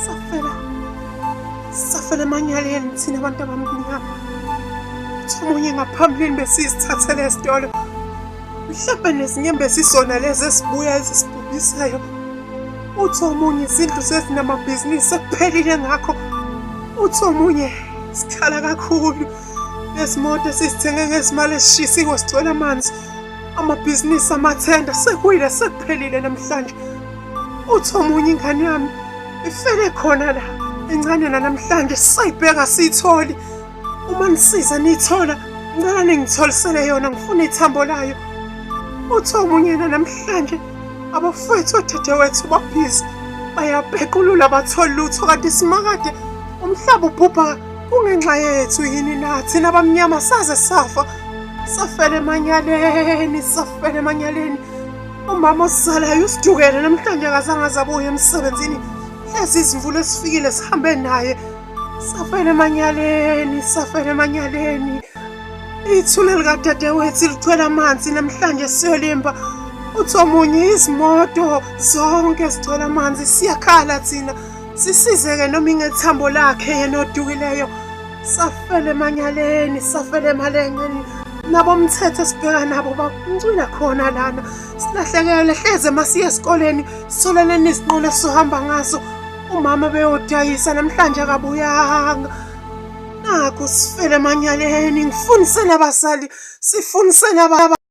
safela safela emanyaleni thina abantu abamnyama uthi omunye ngaphambilini besizithathele esitolo mhlawumbe nezinyembezi izona lezi ezibuya ezisibhubhisayo uthi omunye izindlu sezinamabhizinisi sekuphelile ngakho uthi omunye sikhala kakhulu nezimoto esizithenge ngezimali ezishisiwe sigcwele amanzi amabhizinisi amathenda sekuyile sekuphelile namhlanje uthi omunye ingane yami ifele khona la encane nanamhlanje sisayibheka siyitholi uma nisiza niyithola ngicela ningitholisele yona ngifuna ithambo layo uthi omunye nanamhlanje abafowethu odadewethu babhizi bayapequlula batholi lutho kanti simakade umhlaba ubhubha kungenxa yethu yini nathi nabamnyama saze safa safela emanyaleni safela emanyaleni Umama osalayo usijukele namhlanje akazange azabuye emsebenzini. Lezi izimvula esifikile sihambe naye. Safela emanyaleni, safela emanyaleni. Ithuna likadadewethu lithwele amanzi namhlanje siyolimba. Uthi omunye izimoto zonke zigcwele amanzi siyakhala thina. sisizeke noma ingethambo lakhe yena odukileyo safele emanyaleni safele emalengeni nabomthetho esibheka nabo bakuncwila khona lana silahlekele hleze masiye esikoleni sisoleleni izinqola esizohamba ngaso umama beyodayisa namhlanje akabuyanga nakho sifele emanyaleni ngifundise nabazali sifundise nababa